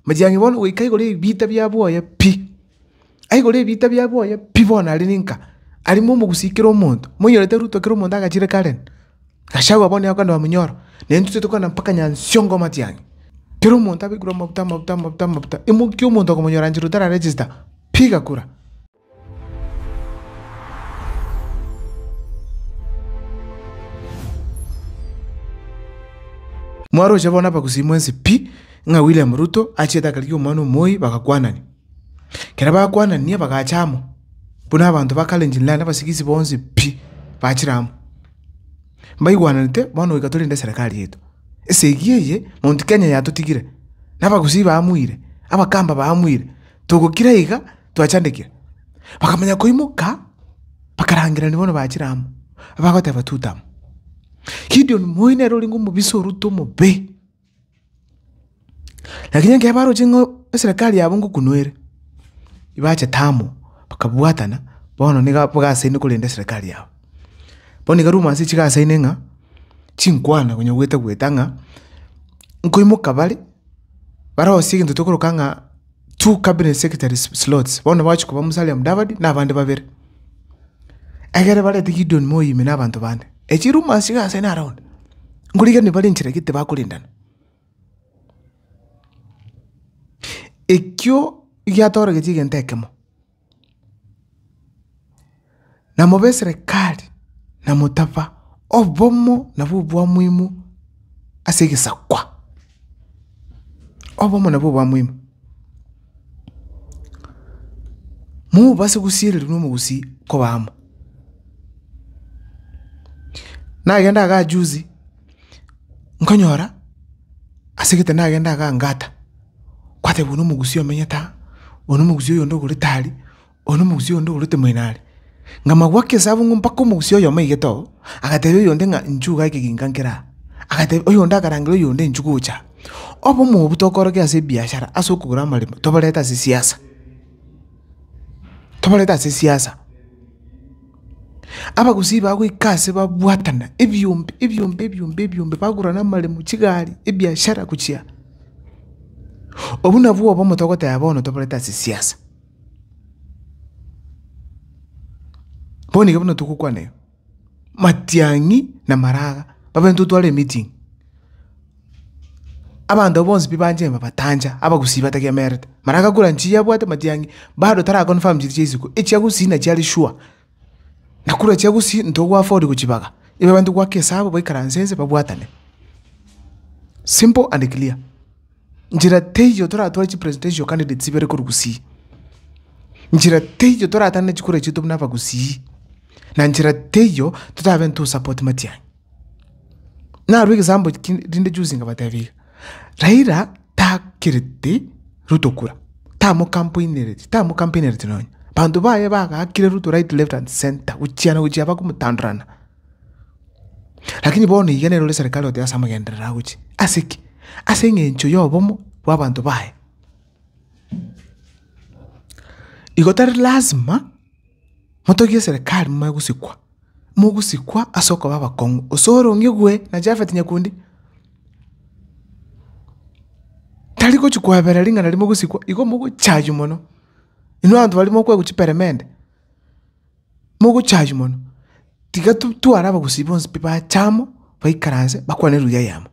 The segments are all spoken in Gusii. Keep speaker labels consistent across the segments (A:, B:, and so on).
A: Machiang'i bono goika igoro y'ebiita bia bwoye pi, aye igoro y'ebiita bia bwoye pi bono aria ninka, aria momogusie kera omonto, moinyorete Ruto kera omonto agachire Karen, Gachagua bono nigo akondoa monyoro, na intwe toite kogenda mpaka Nyansiongo amatiang'i, kera omonto abaekerwe amabuta, amabuta, amabuta, amabuta, imokia omonto okomonyora nchera otara register, pi gakura. Mwaroche bono abagusii mwensi pi, ng'a William Ruto achiete akarigia omwana omoyio bagakwanania. Ekero bakwanania bagacha amo, buna abanto ba Kalenjin land abasigisi bonsi pi, bachire amo. Mbaigwananete bono goika torende eserekari yaito. Esegi eye Mount Kenya yatotigire, na abagusii baamweire, abakamba baamweire, togokira iga. twachandekire. Bakamanya koimoka, bakarangeranigwa bono bachire amo, abagoteba tuta amo. Gideon moyo nere orenge omobisa orute omobe. Lakini ekero baroche ng'a eserekari yabo ngokunu ere, ebachete amo, bakabwatana, bono niga bagasaine korenda eserekari yabo. Bono iga rumors chigasaine ng'a, chinkwana konya gweta gweta ng'a, nkoimoka bare, barosie egento tokoroka ng'a. two cabinet secretaries slots, bono bagachia koba Musalia Mudavadi na abande babere. Egere barete Gideon Moi ime na abanto bande. Echi rumors iga ase na around. Ngorigereria bare enchera gete bakorendana. Ekio giatoregetie egento ekemo. Na mobe eserekari, na motaba obomo nabwo obwamuimu ase egesakwa, obomo nabwo obwamuimu, mobase gosiereria buna omogusii koba amo. Nagenda igaa juzi, nkonyora ase egete nagenda igaa ngata. Kwatebwa one omogusia omenyete aa, one omogusia oyonde ogorete aria, one omogusia oyonde ogorete moino aria. Ng'a magwake esabu ng'a mpaka omogusia oyomo oigete oo, agatebia oyonde ng'a inchuo iga ekeginka nkere aa. Agatebia oyonde akarangera oyonde inchuo gocha aa. Obomo obwo tokorokia ase ebiashara ase okogora amaremo toborete ase siasa, toborete ase siasa. Abagusii bagoika ase babwatana ebiombe ebiombe ebiombe ebiombe bagurana amaremo, chigari, ebiashara gochia. Obwo nabwo obomo togoteba bono toborete ase siasa. Bono iga buna togokwana iga, Matiang'i na Maraga babe intwe tware emeeting. Abanto abwo bonsi pi banche babatancha, Abagusii batagiamerete. Maraga kura nchii abwate Matiang'i bado tara confirm chiri chia isiko, echia Gusii nachiare sure. Na korwa chiagusi ntogwa afford gochibaga, igo abanto goaka esabu baikaranse nse babwatane. Simple and clear. Nchera teiyo toratware chi presidential candidates ibere korwa Gusii. Nchera teiyo toratane chikura chiaito buna abagusii. Na nchera teiyo totabe ntosupport Matiang'i. Narwo egesample kende rinde juzi ngabatebia iga, Raila takereti Ruto kura, tamo campaignereti, tamo campaignereti nonye. Banto baye bagaakire Ruto right, left and centre, gochiana gochia bakomotandorana. Rakini bono iga nere ore serikali oteba ase amagenderero agochia. Ase ki? Ase eng'encho ya obomo bwa abanto baye. Igo tari lazima. motogie eserekari momanye gosikwa, mogosikwa ase okoba abakong'u, gose ore ong'igwe na Japhet Nyakundi, tari gochia koabera ring'ana ria mogosikwa, igo mogochaywa mono, inwe abanto baria mokwegwa chiperemende, mogochaywa mono, tiga tu- tware abagusii bonsi pi bache amo, baikaranse bakwane eluya yamo.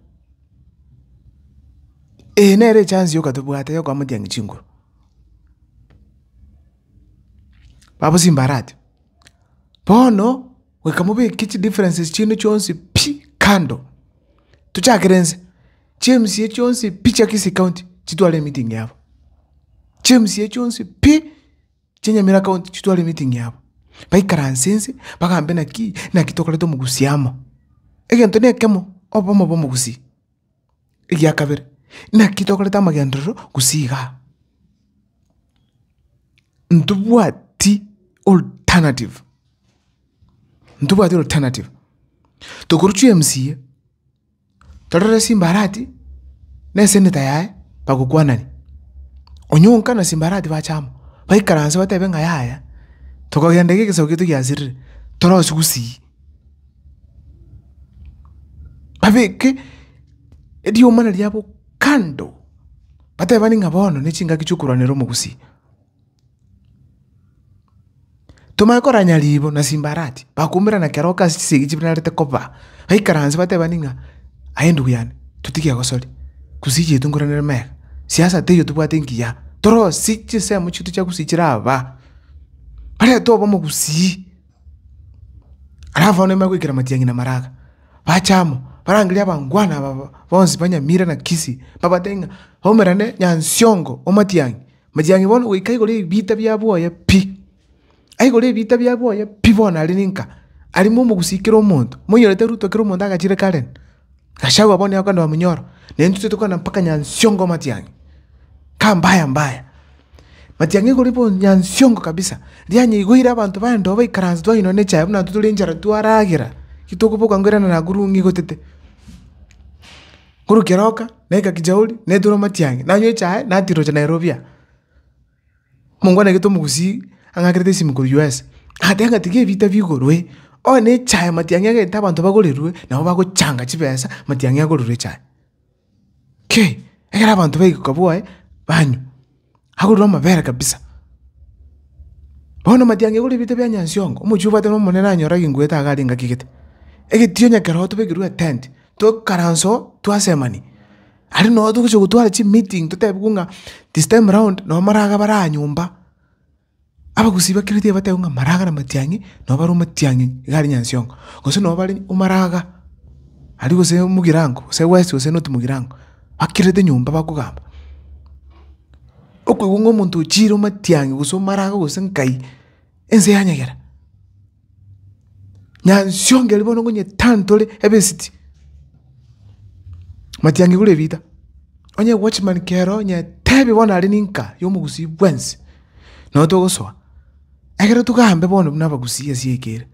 A: Eye nere echance yoka tobwate yokoa motiang'i chinguru. babosie mbarati. Bono goika mobeke chidifferences chiaino chionsi pi kando, tochakere nse, chimca chionsi pi chia Kisii county chitware emeeting yabo, chimca chionsi pi chia Nyamira county chitware emeeting yabo, baikaranse nse bagambe naki naki tokoreta omogusii amo, egento na ekemo obomo bwa omogusii. Egia kabere, naki tokoreta amagenderero gose iga aa, ntobwati alternative, ntobwati alternative, tokorusia emcaa, torore simbarati na eseneta yaye bagokwanani, onye onka na simbarati bacha amo, baikaranse batebe ng'a yaya, tokogenda iga egesaku giaito giasirire, torosie gusii. Babeke eriomana riabo kando, batebane ng'a bono nechingaki chiokorwanera omogusi. Tomanye koranya ribo na simbarati, bakomerana kero oka ase chisegi chibararete koba, baikaranse batebane ng'a aye ndugu yane, totige gosori, gusii chiaito nkoranere megeka, siasa teiyo tobwate engiya, torosie chisemo chiaito chia gusii chiraba, barente obomo gusii. Alafu abana nibabe goikera amatiang'i na amaraga, bache amo barangerie abangwana aba bonsi ba Nyamira na Kisii, babatebi ng'a twaumerane Nyansiongo omatiang'i, matiang'i bono goika igoro ya ebita bia boye pi, aigoro ya ebita bia boye pi bono aria ninka, aria momogusii kera omonto, moinyorete Ruto kera omonto agachire kare. Gachagua bono nigo akonyora omoyoro, na intwe tokogenda mpaka Nyansiongo Matiang'i, ka mbaya mbaya. Matiang'i igoro iga bono Nyansiongo kabisa, rianyeire igo ire abanto baye ndoba baikaranse twainwa ne echae buna intwe tore inchara twaragera, ki tokoboka nko erinde nakorwa ng'a igotete. Korwa keroka, naika kijauri, naeterwa Matiang'i, nanywa echae, natirocha Nairobi aa. Mongwana egete omogusii ang'akerete esimi korwa US, agateba ng'a tiga ebita bigorwe, onye echae matiang'i egete abanto bagorerwe, nabo bagochanga chibesa matiang'i agorerwe echae. Kei, ekero abanto baigwa ka boe, banywa, agorerwe amabere kabisa. Bono matiang'i egorerwe ebita bia nyansiongo, omochie obwate na omonene nanyore agenkuete iga are engaki egete. Egetio nyakero tobekerwe etent, tokaranse oo, twasemani. Aria nonya togochia gotwara chimeeting totebigwe ng'a this time round nonya amaraga bare aha nyomba, abagusii bakere tibatebi ng'a amaraga na matiang'i nonya bare omatiang'i iga aria nyansiongo, gose nonya bare omaraga aria gose omogirango gose west gose not mogirango, bakerete nyomba bakogamba. Okoigwa ng'a omonto ochiire omatiang'i gose omaraga gose nkai, ense yanyegera. Nyansiongeri bono ngonyetantore ebesiti, matiangi gure rita, onye watchman kero onye tebi bono are ninka yomogusii bwensi, nabo togosoa, egere togambe bono buna abagusii ase eke ere,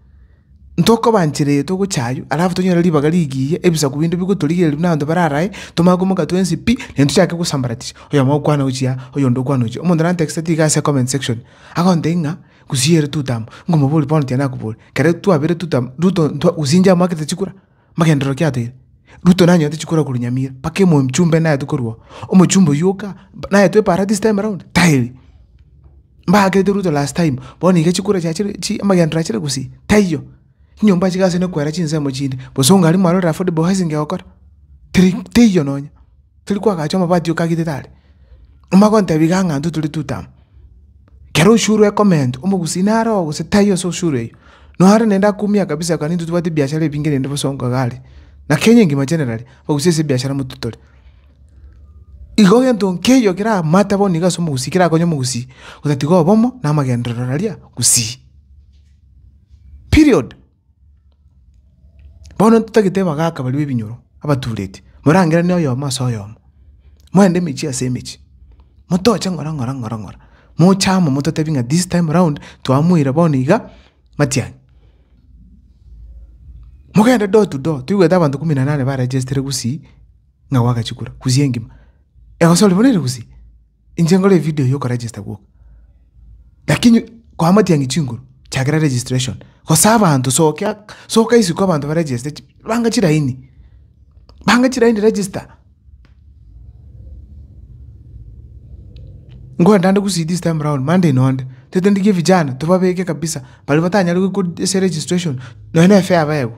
A: ntokobanchera eye togocha aywo alafu tonyore ribaga rigiya ebisaku binde bigotorigereria buna abanto bare arae, tomanye komoka twensi pi, naende tochake gosambaratisha, oyomo okwana ochia, oyonde okwana ochia. Omonto nantexete iga ase comment section, agontebia ng'a Gusii ere totama, ngomoborie bono tiari nakobori, kare twabire totama, Ruto ntwa gosinja amoakete chikura, magenderero ki atoeire? Ruto nanyorete chikura korwa Nyamira, mpaka emochumbe naye tokorwa oo, omochumbe oywo oka, naye toe para this time round? Taiyo. Mbakerete Ruto last time, bono iga chikura chiachire chi amagenderero achire gusii? Taiyo. Chinyomba echi gasi nekoera chinsemo chinde, gose onga aria mwarorire affordable housing egokora, teri teiyo nonya, teri koagacha amabati okagete tari. Omanye gontebia iga ng'a intwe tore tutaama, kero oshuru ekomenta, omogusi nare oo gose tai ase oshuru eywo, noare naende akumia kabisa ekero intwe tobwate ebiashara ebinge rende bosa onga iga are. Na Kenya engima generally, abagusi ase ebiashara moto tore. Igo gento nkeiyo kera matter bono iga ase omogusi kerakonye omogusi otatiga obomo na amagenderero aria gusii. period. Bono ntitagete abagaka baria b'ebinyoro abatureti, morangeranie oyomo ase oyomo, moende emechie ase emechie, motoche ng'ora ng'ora ng'ora ng'ora, moche amo mototebi ng'a this time round twamoira bono iga matiang'i. Mogende door to door, toigwete abanto kumi na nane baregestire gusii ng'a gwagachikura, gusii engima, egosori bono ere gusii. Inche nkore evideo ya okoregister gwoka. Lakini koamatia ng'a chinguru chakera registration. Gose abanto sokia, soka isiko abanto baregeste chi, banga chiraini. Banga chiraini register. Nkwenda nde gusii this time round, mande ino nde. Tete ndigie vijana, tobabeke kabisa. Baria batanyare goika ase registration, nonya ne fare abaegwe.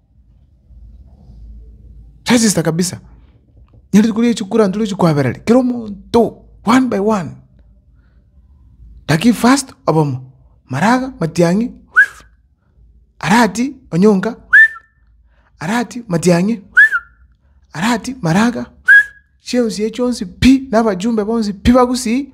A: Register kabisa nere rituko ria chikura nturi chikoabereri kera omonto one by one lakini first obomo maraga matiang'i arati onyonka arati matiang'i arati maraga chionsi echi chionsi pi na abajumbe bonsi pi bagusii.